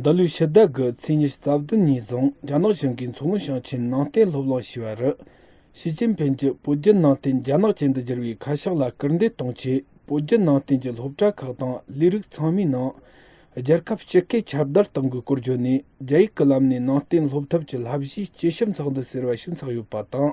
འདི་ལོའི་ཕྱི་ཟླ་དགུ་ཚེས་ཉེར་གཅིག་རྩ་བདུན་ཉིན་བཟུང་རྒྱ་ནག་གཞུང་གིས་མཚོ་སྔོན་ཞིང་ཆེན་ནང་བསྟན་སློབ་གླིང་ཞེས་པ་རུ། ཞི་ཅིན་ཕིན་གྱི་བོད་བརྒྱུད་ནང་བསྟན་རྒྱ་ནག་ཅན་དུ་བསྒྱུར་བའི་ཁ་ཕྱོགས་ལ་སྐུལ་འདེད་གཏོང་ཆེད་བོད་བརྒྱུད་ནང་བསྟན་གྱི་སློབ་གྲྭ་ཁག་དང་ལས་རིགས་ཚང་མའི་ནང། རྒྱལ་ཁབ་སྤྱི་སྐད་ཁྱབ་བརྡལ་གཏོང་དགོས་སྐོར་བརྗོད་ནས་རྒྱ་ཡིག་གི་ལམ་ནས་ནང་བསྟན་སློབ་ཐབས་ཀྱི་བསླབ་གཞིའི་སྤྱི་ཞབས་འཚོགས་འདུ་ཟེར་བ་ཞིག་འཚོགས་ཡོད་པ་དང།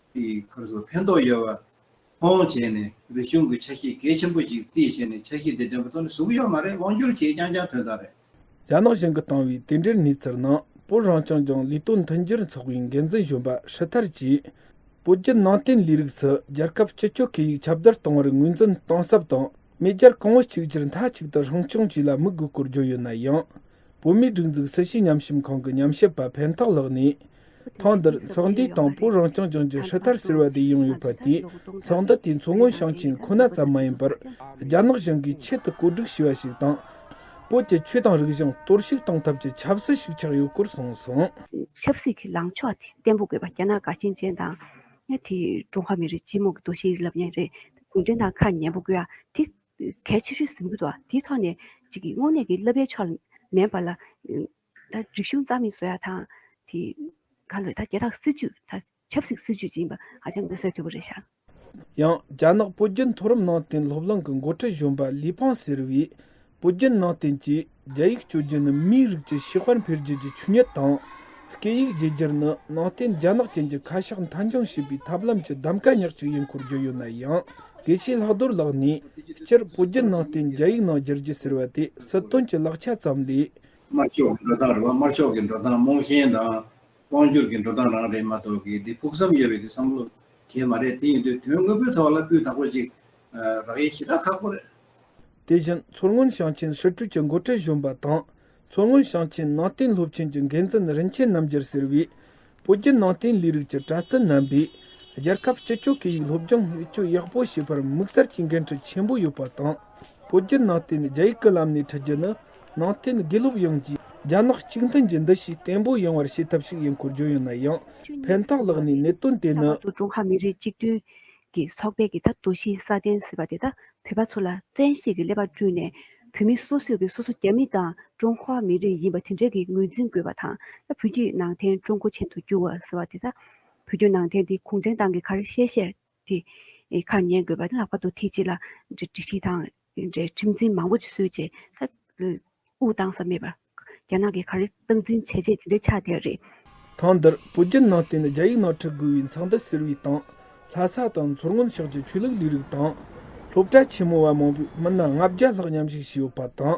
གི་ཁར་སོགས་ཕན་ཐོགས་ཡོད་པར་མཐོང་བྱས་ནས་རིག་གཞུང་གི་ཆ་ཤས་གལ་ཆེན་པོ་ཞིག་རྩིས་བྱས་ནས་ཆ་ཤས་དེ་འདོན་པ་ཐོག་ནས་ཟུག་ཡོད་མ་རེད་དབང་བསྒྱུར་བྱས་རྐྱང་རྐྱང་དོན་དག་རེད། རྒྱ་ནག་གཞུང་གིས་བཏང་བའི་དེ་འབྲེལ་གནས་ཚུལ་ནང་བོད་རང་སྐྱོང་ལྗོངས་ལས་དོན་མཐུན་སྦྱོར་ཚོགས་པའི་འགན་འཛིན་གཞོན་པ་ཧྲི་ཐར་གྱིས། བོད་བརྒྱུད་ནང་བསྟན་ལས་རིགས་སུ་རྒྱལ་ཁབ་སྤྱི་སྤྱོད་སྐད་ཡིག་ཁྱབ་གདལ་གཏོང་བར་ངོས་འཛིན་གཏིང་ཟབ་དང་མེས་རྒྱལ་གོང་བུ་གཅིག་གྱུར་མཐའ་གཅིག་ཏུ་སྲུང་སྐྱོང་བཅས་ལ་དམིགས་དགོས་སྐོར་བརྗོད་ཡོད་ན་ཡང། བོད་མིའི་སྒྲིག་འཛུགས་སྲིད་ཞུའི་ཉམས་ཞིབ་ཁང་གི་ཉམས་ཞིབ་པ་ཕན་ཐོགས་ལགས་ནས། ཐེངས་འདིར་ཚོགས་འདུའི་སྟེང་བོད་རང་སྐྱོང་ལྗོངས་ཀྱི་ཧྲི་ཐར་ཟེར་བ་དེ་ཡང་ཡོད་པ་དེས་ཚོགས་འདུ་དེའི་མཚོ་སྔོན་ཞིང་ཆེན་ཁོ་ན་ཙམ་མ་ཡིན་པར་རྒྱ་ནག་གཞུང་གིས་ཆེད་དུ་བཀོད་སྒྲིག་བྱས་པ་ཞིག་དང། བོད་ཀྱི་ཆོས་དང་རིག་གཞུང་གཏོར་བཤིག་གཏོང་ཐབས་ཀྱི་ཆབ་སྲིད་ཞིག་ཆགས་ཡོད་སྐོར་གསུངས་སོང། ཆབ་སྲིད་ཀྱི་ལངས་ཕྱོགས་དེ་བརྟན་པོ་དགོས་པ་རྒྱ་ནག་དགའ་ཞེན་ཅན་དང། དེས་ཀྲུང་ཧྭ་མི་རིགས་སྤྱི་དམངས་ཀྱི་འདུ་ཤེས་རིག་ལམ་ཉིན་རེ་གུང་བསྒྲེང་དང་ཁ་ཉན་པོ་དགོས་ཡ་དེ། གལ་ཆེ་ཤོས་ཟིན་འབུལ་བ་དེའི་ཐོག་ནས་གཅིག་གིས་དངོས་གནས་ཀྱི་བསླབ་པའི་ཕྱོགས་ལ་མེད་པ་ལ། ད་རིག་གཞུང་རྩ་མེད་བཟོ་ཡག་དང། དེ་ག་ལོད་ད་རྒྱལ་དར་སྲིད་ཇུས་ད་ཆབ་སྲིད་སྲིད་ཇུས་ཅིག་ཡིན་པ་ཧ་ཅང་མངོན་གསལ་དོད་པོ་རེད་ཤག། ཡང་རྒྱ་ནག་བོད་བརྒྱུད་མཐོ་རིམ་ནང་བསྟན་སློབ་གླིང་གི་མགོ་ཁྲིད་གཞོན་པ་ལི་ཕང་ཟེར་བས་བོད་བརྒྱུད་ནང་བསྟན་གྱི་རྒྱ་ཡིག་སྤྱོད་རྒྱུ་ནི་མིའི་རིགས་ཀྱི་ཕྱི་དཔལ་འཕེལ་རྒྱས་ཀྱི་ཆུ་ཉལ་དང། སྐད་ཡིག་བརྗེ་བསྒྱུར་ནི་ནང་བསྟན་རྒྱ་ནག་ཅན་གྱི་ཁ་ཤགས་མཐའ་འཁྱོངས་བྱེད་པའི་ཐབས་ལམ་གྱི་གདམ་ག་ཉག་གཅིག་ཡིན་སྐོར་བརྗོད་ཡོད་ན་ཡང། དགེ་བཤེས་ལྷག་རྡོར་ལགས་ནས་སྤྱིར་བོད་བརྒྱུད་ནང་བསྟན་རྒྱ་ཡིག་ནང་བསྒྱུར་རྒྱུ་ཟེར་བ་དེ་སྲིད་དོན་གྱི་ལག་ཆ་ཙམ་ལས། དམར་ཕྱོགས་ཀྱི་འགྲོ་སྟངས་རེད་བ་དམར་ཕྱོགས་ཀྱི་འགྲོ་སྟངས་རྨོངས་ཞེན་དང་དབང་བསྒྱུར་གྱི་འགྲོ་སྟངས་རང་རེད་མ་གཏོགས་གི་འདི་ཕུགས་བསམ་ཡོད་པའི་གི་བསམ་བློ་གལ་མ་རེད་དེ་ཡིན་དུས་དོན་དངོས་པོའི་ཐོག་ལ་སྤུས་དག་པོ་ཅིག་རག་ཡེ་ཞེ་དྲག་ཁག་པོ་རེད། དེ་བཞིན་མཚོ་སྔོན་ཞིང་ཆེན་ཧྲིལ་སྤྲུལ་གྱི་མགོ་ཁྲིད་གཞོན་པ་དང་མཚོ་སྔོན་ཞིང་ཆེན་ནང་བསྟན་སློབ་ཆེན་གྱི་འགན་འཛིན་རིན་ཆེན་རྣམ་རྒྱལ་ཟེར་བས་བོད་བརྒྱུད་ནང་བསྟན་ལས་རིགས་ཀྱི་པྲ་ཚིལ་རྣམ་པས་རྒྱལ་ཁབ་སྤྱི་སྤྱོད་སྐད་ཡིག་སློབ་སྦྱོང་བེད་སྤྱོད་ཡག་པོ་བྱེད་པར་དམིགས་བསལ་གྱི་འགན་འཁྲི་ཆེན་པོ་ཡོད་པ་དང། བོད་བརྒྱུད་ནང་བསྟན་རྒྱ་ཡིག་གི་ལམ་ནས་འཁྲིད་རྒྱུ་ནི་ནང་བསྟན་དགེ་སློབ་ཡོངས་ཀྱི་རྒྱ་ནག་གཅིག་མཐུན་གྱི་འདུ་ཤེས་བརྟན་པོ་ཡོང་བར་བྱེད་ཐབས་ཤིག་ཡིན་སྐོར་བརྗོད་ཡོད་ན་ཡང་ཕན་ཐོགས་ལགས་ནས་གནད་དོན་དེ་ནི། ལྷག་པར་དུ་ཀྲུང་ཧྭ་མི་རིགས་གཅིག་མཐུན། ཀྱི་ཚོགས་པའི་གི་ཐབས་འདུ་ཤེས་སྲ་བརྟན་ཟེར་བ་དེ་དག་བོད་པ་ཚོ་ལ་བཙན་ཤེད་ཀྱི་ཀླད་པ་བསྐྲུན་ནས་བོད་མི་སོ་སོས་ཀྱི་སོ་སོ་རྒྱ་མི་དང་ཀྲུང་ཧྭ་མི་རིགས་ཡིན་པ་དེ་འདྲའི་གི་ངོས་འཛིན་དགོས་པ་དང་ད་བོད་བརྒྱུད་ནང་བསྟན་ཀྲུང་གོ་ཆེན་དུ་བསྒྱུར་བ་ཟེར་བ་དེ་དག་བོད་བརྒྱུད་ནང་བསྟན་དེ་གུང་ཁྲན་ཏང་གི་ཁར་བཤད་བཤད་དེ་ཁར་ཉན་དགོས་པ་ལྷག་པར་དུ་ཐེ་ཇི་ལ་འདྲི་ཞིག་དང། དེ་འདྲའི་ཁྲིམས་འཛིན་མང་པོ་ཞིག་བཟོས་རྗེས་ད་དབུས་གཏང་ས་མེད་པར། རྒྱ་ནག་གིས་ག་རེ་སྟངས་འཛིན་བྱས་རྗེས་དེ་འདྲའི་ཆགས་བསྡད་རེད། ཐེངས་འདིར་བོད་བརྒྱུད་ནང་བསྟན་ནི་རྒྱ་ཡིག་ནང་འཁྲིད་དགོས་པའི་མཚང་འདི་གཟིར་བའི་སྟེང། ལྷ་ས་དང་མཚོ་སྔོན་ཕྱོགས་ཀྱི་ཆོས་ལུགས་ལས་རིགས་དང། སློབ་གྲྭ་ཆེན་མོ་བ་མང་པོས་མི་སྣ་ལྔ་བརྒྱ་ལྷག་མཉམ་ཞུགས་བྱས་ཡོད་པ་དང།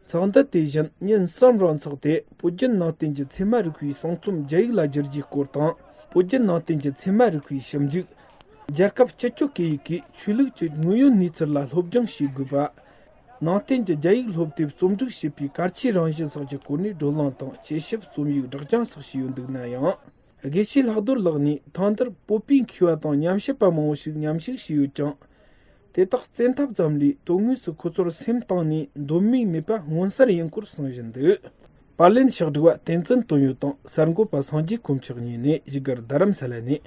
ཚོགས་འདུ་དེ་བཞིན་ཉིན་གསུམ་རིང་འཚོགས་ཏེ་བོད་བརྒྱུད་ནང་བསྟན་གྱི་ཚད་མ་རིག་པའི་གསུང་རྩོམ་རྒྱ་ཡིག་ལ་བསྒྱུར་རྒྱུའི་སྐོར་དང། བོད་བརྒྱུད་ནང་བསྟན་གྱི་ཚད་མ་རིག་པའི་ཞིབ་འཇུག། རྒྱལ་ཁབ་སྤྱི་སྤྱོད་སྐད་ཡིག་གིས་ཆོས་ལུགས་ཀྱི་དངོས་ཡོད་གནས་ཚུལ་ལ་སློབ་སྦྱོང་བྱེད་དགོས་པ། ནང་བསྟན་གྱི་རྒྱ་ཡིག་སློབ་དེབ་རྩོམ་སྒྲིག་བྱེད་པའི་གལ་ཆེའི་རང་བཞིན་སོགས་ཀྱི་སྐོར་ནས་བགྲོ་གླེང་དང་དཔྱད་ཞིབ་རྩོམ་ཡིག་སྒྲགས་སྦྱང་སོགས་བྱས་ཡོད་འདུག་ན་ཡང། དགེ་བཤེས་ལྷག་རྡོར་ལགས་ནི་ཐང་དར་སྤོ་པའི་འཁེལ་བ་དང་ཉམས་ཞིབ་པ་མང་བོ་ཞིག་ཉམས་ཞིབ་བྱས་ཡོད་ཀྱང། དེ་དག་བཙན་ཐབས་ཙམ་ལས་དོན་དངོས་སུ་ཁོ་ཚོར་སེམས་གཏིང་ནས་འདོད་མོས་མེད་པ་མངོན་གསལ་ཡིན་སྐོར་གསུངས་བཞིན་འདུག་པར་ལེན་ཕྱག་བསྒྲིགས་པ་བསྟན་འཛིན་དོན་ཡོད་དང་གསར་འགོད་པ་སངས་རྒྱས་ཀུན་ཆགས་གཉིས་ནས་གཞིས་སྒར་རྡ་རམ་ས་ལ་ནས།